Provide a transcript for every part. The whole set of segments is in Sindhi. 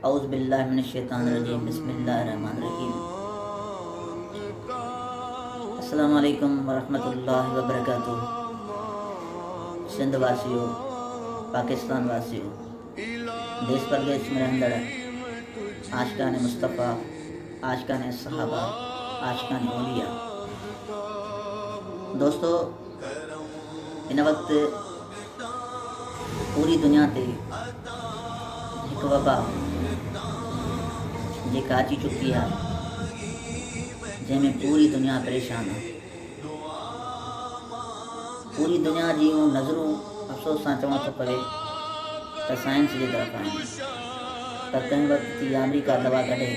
اعوذبالله من الشيطان الرجيم بسم الله الرحمن الرحيم السلام عليڪم ورحمة الله وبرڪاته سنڌ واسيو پاڪستان واسيو ديس پرديس ۾ رهندڙ عاشقان مصطفيٰ عاشقان صحابه عاشقان اوليا دوستو هن وقت پوري دنيا تي هڪ وبا جيڪا اچي چڪي آهي جنهن ۾ پوري دنيا پريشان آهي. پوري دنيا جي اهو نظرون افسوس سان چوڻو ٿو پوي ته سائنس جي طرف آهن پر ڪنهن وقت ٿي آمريڪا دوا ڪڍي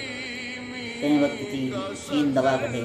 ڪنهن وقت ٿي چين دوا ڪڍي.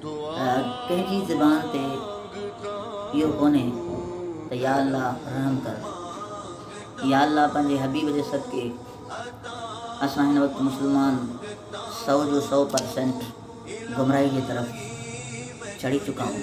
تنهنجي زبان تي اهو ڪونهي ته يا الله رحم ڪر. يا الله پنهنجي حبيب جي صدقي اسان هن وقت مسلمان سو جو سو پر سينٽ گمراهي جي طرف چڙهي چڪا آهون.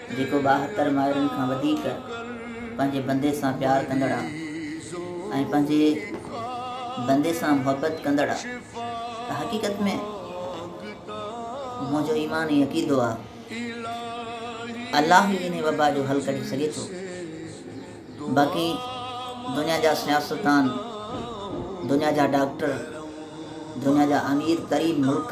جيڪو ٻاهتر مائرن کان وڌيڪ پنهنجي بندي سان پيار ڪندڙ آ ۽ پنهنجي بندي سان محبت ڪندڙ آ ته حقيقت ۾ منهنجو ايمان ۽ عقيدو آ الله ئي انهي وبا جو حل ڪڍي سگهي ٿو باقي دنيا جا سياستدان دنيا جا ڊاڪٽر دنيا جا امير ترين ملڪ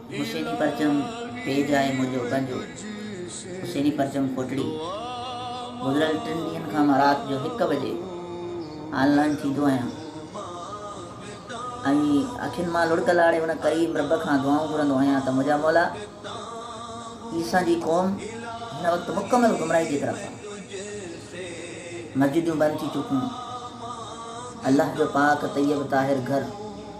حسيني پرچم پيج آهي منهنجو پنهنجو حسيني پرچم ڪوٽڙي گذريل ٽن ڏينهن کان مان رات جو هڪ بجي آن لائين ٿيندو آهيان ۽ اکين مان لڙڪ لاڙي ان قريب رب کان دعائون گهرندو آهيان ته منهنجا مولا عيسيٰ جي قوم هن وقت مڪمل گمراهي جي طرف آهي مسجدون بند ٿي چڪيون الله جو پاڪ طيب طاهر گهر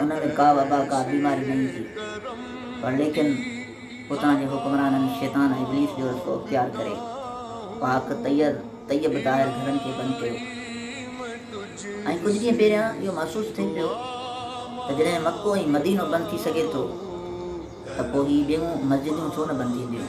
انهن ۾ ڪا وبا، ڪا بيماري نه ايندي، پر ليڪن اتان جي حڪمرانن شيطان ابليس جو رستو اختيار ڪري پاڪ طير طيب طاهر گهرن کي بند ڪيو ۽ ڪجهه ڏينهن پهريان اهو محسوس ٿئي پيو ته جڏهن مڪو ۽ مدينو بند ٿي سگهي ٿو ته پوء هي ٻيون مسجدون ڇو نه بند ٿينديون.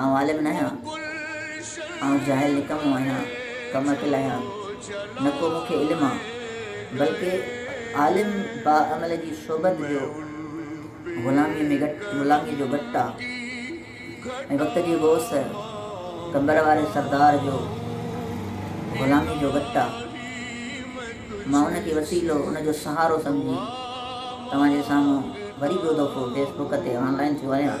آئون عالم ناهيان، آئون جاهل نڪمو آهيان، ڪم عقل آهيان، نه ڪو مون کي علم آ، بلڪ عالم باعمل جي صحبت جو غلاميء ۾ غلاميء جو گٽ آ ۽ وقت جي غوث قمبر واري سردار جو غلاميء جو گٽ آ، مان ان کي وسيلو، ان جو سهارو سمجهي توهان جي سامهون وري ٻيو دفعو فيس بڪ تي آن لائن ٿيو آهيان.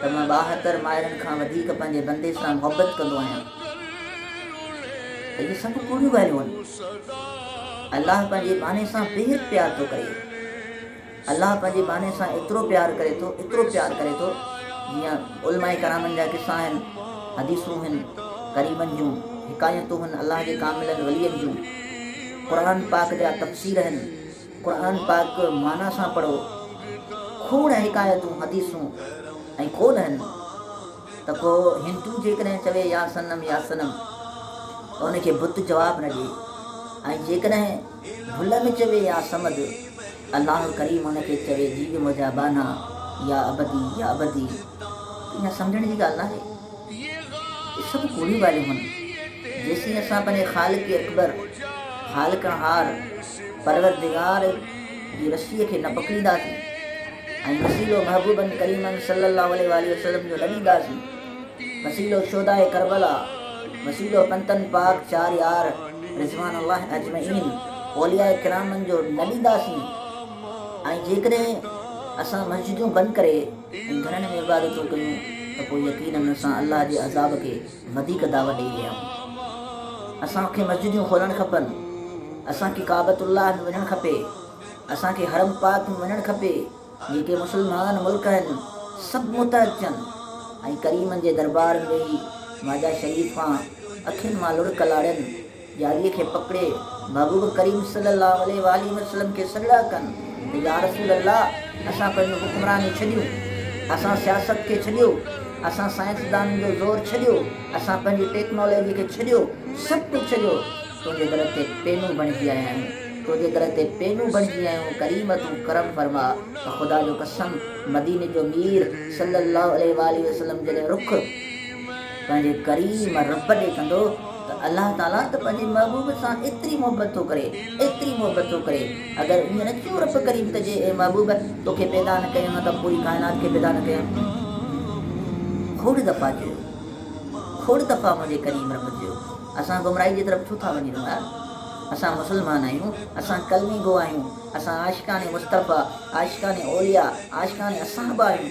ته مان ٻاهتر مائرن کان وڌيڪ پنهنجي بندي سان محبت ڪندو آهيان ته اهي سڀ ڪوڙيون ڳالهيون آهن الله پنهنجي ٻانهي سان بيحد پيار ٿو ڪري الله پنهنجي ٻانهي سان ايترو پيار ڪري ٿو ايترو پيار ڪري ٿو جيئن علماء ڪرامن جا قصا آهن حديثون آهن ڪريمن جون حڪايتون آهن الله جي ڪاملن ولين جون قرآن پاڪ جا تفسير آهن قرآن پاڪ معنيٰ سان پڙهو. کوڙ حڪايتون، حديثون ۽ قول هن ته ڪو هندو جيڪڏهن چوي يا صنم يا صنم ته ان کي بت جواب نه ڏئي ۽ جيڪڏهن ڀل ۾ چوي يا صمد الله ڪريم ان کي چوي جيوي منهنجا ٻانها يا عبدي يا عبدي ته اها سمجهڻ جي ڳالهه ناهي. اهي سڀ ڪوڙيون ڳالهيون هن. جيسين اسان پنهنجي خالق اڪبر، خالقڻهار، پروردگار جي وصيء کي نه پڪڙينداسين ۽ وسيلو محبوبن ڪريمن صلّي اللّٰه عليه واٰله وسلّم جو نه ڏينداسين، وسيلو شهداء ڪربلا، وسيلو پنتن پاڪ چار يار رضوان الله اجمعين، اولياء ڪرامن جو نه ڏينداسين ۽ جيڪڏهن اسان مسجدون بند ڪري ۽ گهرن ۾ عبادتون ڪيون ته پوء يقيناً اسان الله جي عذاب کي وڌيڪ دعوت ڏئي رهيا هئا اسان کي مسجديون کولڻ کپن اسان کي ڪعبت الله ۾ وڃڻ کپي اسان کي حرم پاڪ ۾ وڃڻ کپي جيڪي مسلمان ملڪ هن سڀ متحد ٿين ۽ ڪريمن جي دربار ۾ ويهي ماجا شريف کان اکين مان لڙڪ لاڙين ڄاڙيء کي پڪڙي محبوب ڪريم صلي الله عليه واٰله وسلم کي سڏڙا ڪن ته يارسول الله اسان پنهنجون حڪمرانيون ڇڏيون، اسان سياست کي ڇڏيو، اسان سائنسدانن جو زور ڇڏيو، اسان پنهنجي ٽيڪنالاجي کي ڇڏيو، سڀ ڪجهه ڇڏيو تنهنجي در تي پينون بڻجي آيا آهيون، تنهنجي در تي پينون بڻجي آيون ڪريم تون ڪرم فرماء ته خدا جو قسم مديني جو مير صلي الله عليه واٰله وسلم جڏهن رخ پنهنجي ڪريم رب ڏي ڪندو ته الله تعاليٰ ته پنهنجي محبوب سان ايتري محبت ٿو ڪري ايتري محبت ٿو ڪري اگر ائين نه ٿيو رب ڪريم ته جي اي محبوب توکي پيدا نه ڪيو ها ته پوري ڪائنات کي پيدا نه ڪيو کوڙ دفعا چيو کوڙ دفعا منهنجي ڪريم رب چيو اسان گمراهي جي طرف ڇو ٿا وڃي رهون يار اسان مسلمان آهيون اسان ڪلمي گو آهيون اسان عاشقان مصطفيٰ عاشقان اولياء عاشقان اصحاب آهيون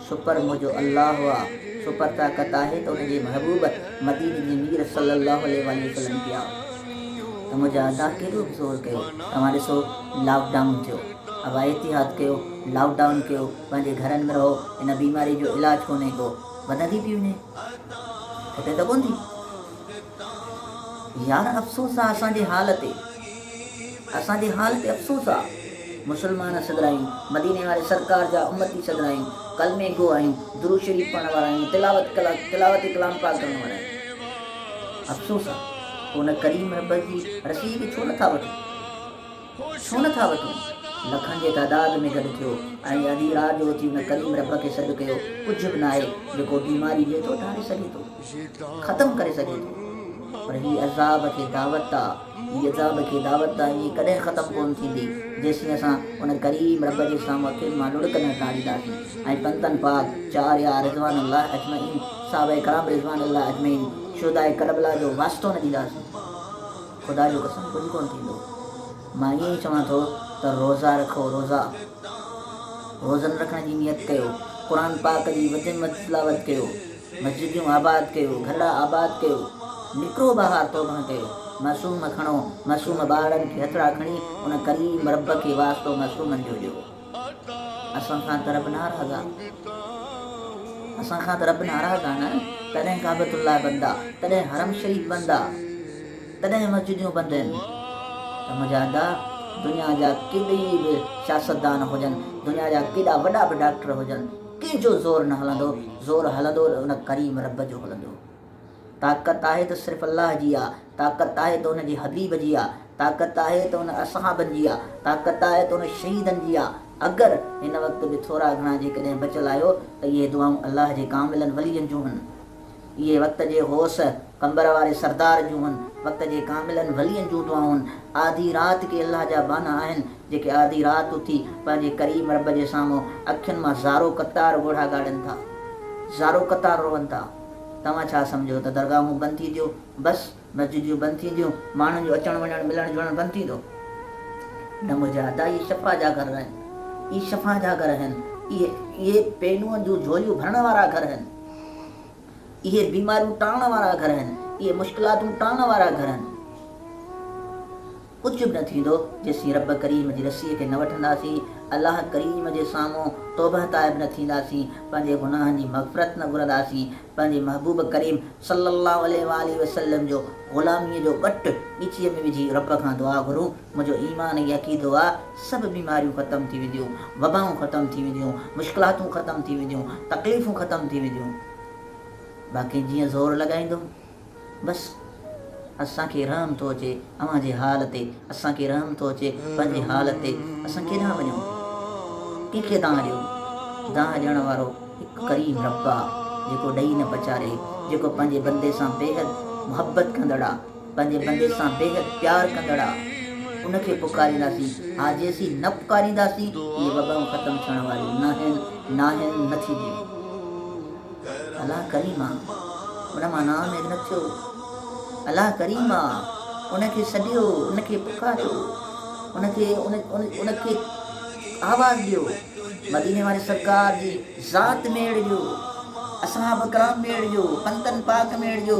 سپر منهنجو الله آ، سپر طاقت آهي ته ان جي محبوب مديني جي مير صلي الله عليه واٰله وسلم ڪيا ته منهنجا ادا ڪيڏو به زور ڪيو توهان ڏسو لاڪ ڊائون ٿيو ابا احتياط ڪيو لاڪ ڊائون ڪيو پنهنجي گهرن ۾ رهو ان بيماري جو علاج ڪونهي ڪو وڌندي پي وڃي ختي ته ڪون ٿي. يار افسوس آ اسان جي حال تي. اسان جي حال تي افسوس آ. مسلمان سگھراهيون، مديني واري سرڪار جا امتي سگھراهيون، ڪلمي گو آهيون، درود شريف پڙهڻ وارا آهيون، تلاوت تلاوت ڪلام پاڪ ڪرڻ وارا آهيون. افسوس آ. پوء ان ڪريم رب جي رسيء کي ڇو نه ٿا وٺون؟ ڇو نه ٿا وٺون؟ لکن جي تعداد ۾ گڏ ٿيو ۽ اڌي رات جو اٿي ان ڪريم رب کي سڏ ڪيو. ڪجھ به ناهي جيڪو بيماري ڏئي ٿو ڌاري سگھي ٿو. ختم ڪري سگهي ٿو پر هي عذاب کي دعوت آ هي عذاب کي دعوت آ هي ڪڏهن ختم ڪون ٿيندي جيسين اسان ان ڪريم رب جي سامهون اکين مان لڙڪ نه ٽارينداسين ۽ پنتن پاڪ چار يار رضوان الله اجمعين صحابه ڪرام رضوان الله اجمعين شهداء ڪربلا جو واسطو نه ڏينداسين خدا جو قسم ڪجهه ڪون ٿيندو مان ائين ئي چوان ٿو ته روزا رکو روزا روزن رکڻ جي نيت ڪيو قرآن پاڪ جي وڌ ۾ وڌ تلاوت ڪيو مسجديون آباد ڪيو، گهلا آباد ڪيو، نڪرو ٻاهر توبه ڪيو، معصوم کڻو، معصوم ٻارڙن کي هٿڙا کڻي ان ڪليم رب کي واسطو معصومن جو ڏيو. اسان کان ته رب ناراض آ. اسان کان ته رب ناراض آ نه، تڏهن ڪعبت الله بند آ، تڏهن حرم شريف بند آ، تڏهن مسجديون بند هين ته مجاهدا دنيا جا ڪيڏي به سياستدان هجن، دنيا جا ڪيڏا وڏا به ڊاڪٽر هجن، ڪنهن جو زور نه هلندو، زور هلندو ته ان ڪريم رب جو هلندو. طاقت آهي ته صرف الله جي آ، طاقت آهي ته ان جي حبيب جي آ، طاقت آهي ته ان اصحابن جي آ، طاقت آهي ته ان شهيدن جي آ. اگر هن وقت به ٿورا گهڻا جيڪڏهن بچل آهيو ته اهي دعائون الله جي ڪاملن ولين جون هن. اهي وقت جي غوث، قمبر واري سردار جون هن وقت جي ڪاملن ولين جون دعائون آڌي رات ڪي الله جا ٻانها آهن، جيڪي آڌي رات اٿي پنهنجي ڪريم رب جي سامهون اکين مان زارو قطار ڳوڙها ڳاڙين ٿا. زارو قطار روئن ٿا. توهان ڇا سمجهو ته درگاهون بند ٿي ٿيو بس؟ مسجديون بند ٿينديون، ماڻهن جو اچڻ وڃڻ، ملڻ جلڻ بند ٿيندو. نه منهنجا ادا اهي شفا جا گهر آهن، اهي شفا جا گهر آهن، اهي پينون جون جهوليون ڀرڻ وارا گهر آهن، اهي بيماريون ٽارڻ وارا گهر آهن، اهي مشڪلاتون ٽارڻ وارا گهر آهن. ڪجهه به نه ٿيندو جيسين رب ڪريم جي رسيء کي نه وٺنداسين، الله ڪريم جي سامهون توبهه تائب نه ٿينداسين، پنهنجي گناهن جي مغفرت نه گهرنداسين، پنهنجي محبوب ڪريم صلّي اللّٰه عليه واٰله وسلّم جو غلاميء جو ٻٽ ڳچيء ۾ وجهي رب کان دعا گهرون، منهنجو ايمان ۽ عقيدو آ، سڀ بيماريون ختم ٿي وينديون، وبائون ختم ٿي وينديون، مشڪلاتون ختم ٿي وينديون، تڪليفون ختم ٿي وينديون، باقي جيئن زور لڳائيندم. بس اسان کي رحم ٿو اچي اوهان جي حال تي اسان کي رحم ٿو اچي پنهنجي حال تي اسان ڪيڏانهن وڃون ڪنهن کي دانهن ڏيون دانهن ڏيڻ وارو هڪ ڪريم رب آ جيڪو ڏئي نه پچاري جيڪو پنهنجي بندي سان بيحد محبت ڪندڙ آ پنهنجي بندي سان بيحد پيار ڪندڙ آ ان کي پڪارينداسين ها جيسين نه پڪارينداسين اهي وبائون ختم ٿيڻ واريون ناهن ناهن نه ٿينديون. الا ڪريم آ ان مان نا اميد نه ٿيو الا ڪريم آ ان کي سڏيو ان کي پڪاريو ان کي ان کي آواز ڏيو مديني واري سرڪار جي ذات ۾ اڙ جو اصحاب ڪرام ۾ اڙ جو پنتن پاڪ ۾ اڙ جو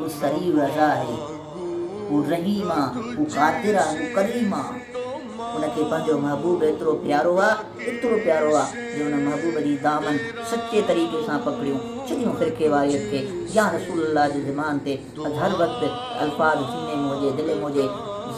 هو سريع الرضا آهي، هو رحيم آ، هو قادر آ، هو ڪريم آ. ان کي پنهنجو محبوب ايترو پيارو آ، ايترو پيارو آ جو ان محبوب جي دامن سچي طريقي سان پڪڙيون ڇڏيون فرقي واريت کي يا رسول الله جي زبان تي اڄ هر وقت الفاظ سيني ۾ هجي دل ۾ هجي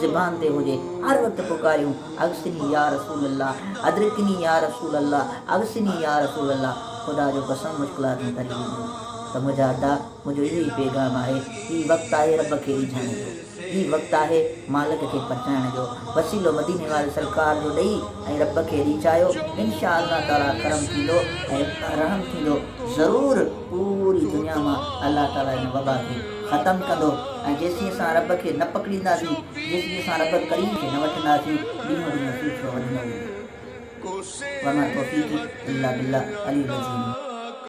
زبان تي هجي هر وقت پڪاريون اغثني يا رسول الله ادرڪني يا رسول الله اغثني يا رسول الله خدا جو قسم مشڪلاتون ٽري وينديون ته مجاهدا منهنجو اهو ئي پيغام آهي، هي وقت آهي رب کي ريجهائڻ جو، هي وقت آهي مالڪ کي پرچائڻ جو، وسيلو مديني واري سرڪار جو ڏئي ۽ رب کي ريجهايو، انشاء الله تعاليٰ ڪرم ٿيندو ۽ رحم ٿيندو ضرور پوري دنيا مان الله تعاليٰ ان وبا کي ختم ڪندو ۽ جيسين اسان رب کي نه پڪڙينداسين، جيسين اسان رب ڪريم کي نه وٺنداسين، ڏينهون ڏينهن پٺيو وڌندو ويندو. وما توفيقي الا بالله العلي العظيم.